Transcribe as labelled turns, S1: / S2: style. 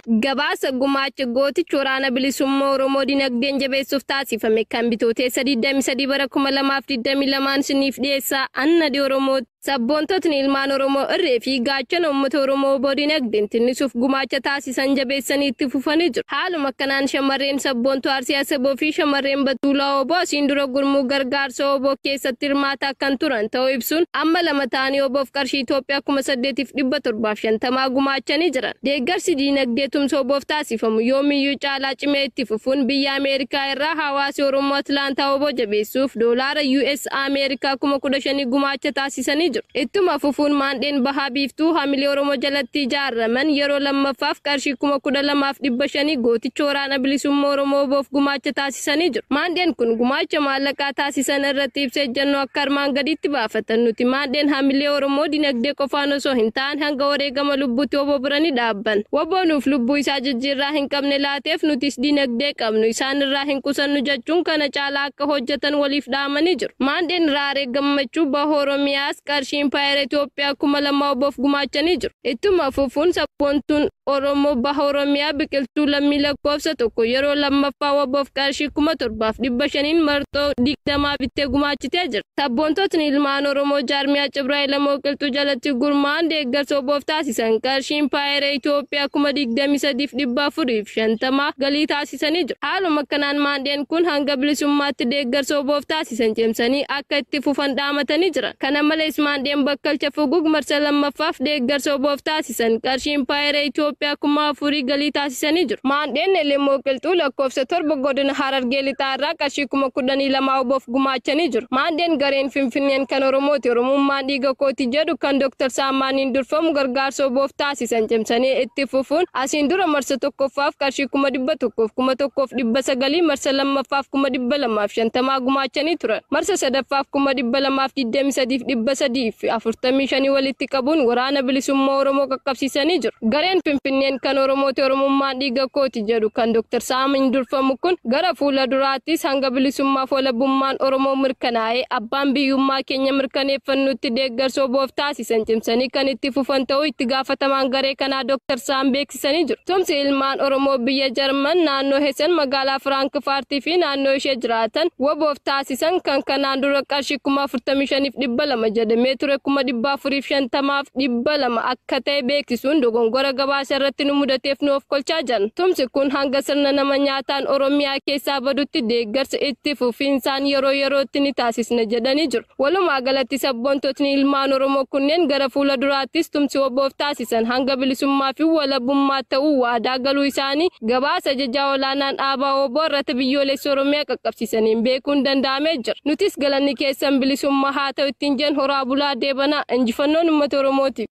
S1: Gabaasa gumaacha gootichi waraana bilisummaa Oromoo dinagdeen jabeessuuf taasifame kan bitooteessa 23 bara 2022 isiniif dhiyeessaa Annadi Oromoo Sabboontotni ilmaan Oromoo irree fi gaachana uummata Oromoo wbo dinagdeen tinnisuuf gumaacha taasisan jabeessanii itti fufanii jiru. Haaluma kanaan shamarreen sabboontuu Arsii Asaboo fi shamarreen Batuulaa wbo asiin dura gurmuu gargaarsa wbo keessatti hirmaataa kan turan ta'uu ibsuun amma lama ta'anii wbof qarshii Itoophiyaa 8750 gumaachanii jiran. Deeggarsi diinagdee tumsa wbof taasifamu yoomiyyuu caalaa cimee itti fufuun biyya Ameerikaa irraa hawaasi Oromoo Atlaantaa wbo jabeessuuf doolaara US. Doolaars Ameerikaa kuma 15 gumaacha taasisanii jiru. Ittuma fufuun Maandheen Baha Biiftuu Hamilee Oromoo jalatti ijaaraman yeroo 2ffaaf qarshii kuma 12 fi 500 Gooticha Waraana Bilisumma Oromoo WBOf gumaacha taasisanii jiru. Maandheen kun gumaacha maallaqaa taasisan irratti ibsa ejjannoo akka armaan gadiitti baafatan. Nuti Maandheen Hamilee Oromoo dinagdee qofaan osoo hin taane hanga wareegama lubbuutti wbo bira ni dhaabbanna. Wbo nuuf lubbuu isaa jijjiirraa hin qabne laateef nutis dinagdee qabnu isaan irraa hin qusannu jechuun kana caalaa akka hojjetan waliif dhaamanii jiru. Maandheen Raaree Gammachuu Baha Oromiyaas qarshii Impaayera Itoophiyaa kuma lama WBOf gumaachanii jiru. Ittuma fufuun sabboontuun Oromoo Baha Oromiyaa Biqiltuu Lammii Lakkoofsa tokko yeroo lammaffaa WBOf qarshii kuma torbaaf dhibba shaniin marxoo digdamaa bittee gumaachitee jirti. Sabboontotni ilmaan Oromoo jaarmiyaa Cibra Elemoo Qilxuu jalatti gurmaa'an deeggarsa WBOf taasisan qarshii Impaayera Itoophiyaa kuma digdamii sadiif dhibba afuriif shantama galii taasisaniiru. ittisanii jiru. Haaluma kanaan maandheen kun hanga bilisummaatti deeggarsa WBOf taasisan cimsanii akka itti fufan dhaamatanii jiran. Kana malees maandheen bakkalcha Fugug marsa 2ffaaf deeggarsa WBOf taasisan qarshii impaayera Itoophiyaa 4000 galii taasisanii jiru. Maandheen Elemoo Qilxuu lakkoofsa 7 godina Harargee Lixaa irraa qarshii 12000 WBOf gumaachanii jiru. Maandheen gareen Finfinneen kan Oromooti, Oromummaan dhiiga kooti jedhu kan Dr. Saammaaniin durfamu gargaarsa WBOf taasise. barsiisan cimsanii itti fufuun asiin dura marsa 1ffaaf qarshii 100,000 fi 1,900 marsa 2ffaaf 250,000 gumaachanii turan marsa 3ffaaf 223 fi 345 walitti qabuun waraana bilisummaa Oromoo qaqqabsiisanii jiru. Gareen Finfinneen kan Oromooti Oromummaan dhiiga kooti jedhu kan Dr. Saamiin durfamu kun gara fuula duraattis hanga bilisummaa fi walabummaan Oromoo mirkanaa'ee abbaan biyyummaa keenya mirkaneeffannutti deeggarsa wbo-f taasisa. Isan cimsanii kan itti fufan ta'uu itti gaafatamaan garee kanaa Dr. Saam beeksisanii jiru. Tumsi ilmaan Oromoo biyya Jarman naannoo Hessen magaalaa Firaankifaartii fi naannoo ishee jiraatan waboof taasisan kan kanaan dura qarshii 45,200 jedhamee ture 450,000f 200 akka ta'e beeksisuun dogongora gabaasa irratti nu mudateef nu ofkolchaa jiran. Tumsi kun hanga sirna nama nyaataan Oromiyaa keessaa badutti deeggarsa itti fufiinsaan yeroo yerootti ni taasisna jedhanii jiru. Walumaa galatti sabboontotni ilmaan Oromoo kunneen gara fuula duraattis tumsi WBOf taasisan hanga bilisummaa fi walabummaa ta'uu waadaa galuu isaanii gabaasa Ajajaa Olaanaan Aabaa wbo irratti Biyyoolessa Oromiyaa qaqqabsiisaniin beekuun danda'amee jira. Nutis galanni keessan bilisummaa haa ta'u ittiin jenna. Horaa bulaa deebanaa. Injifannoon Ummata Oromootiif!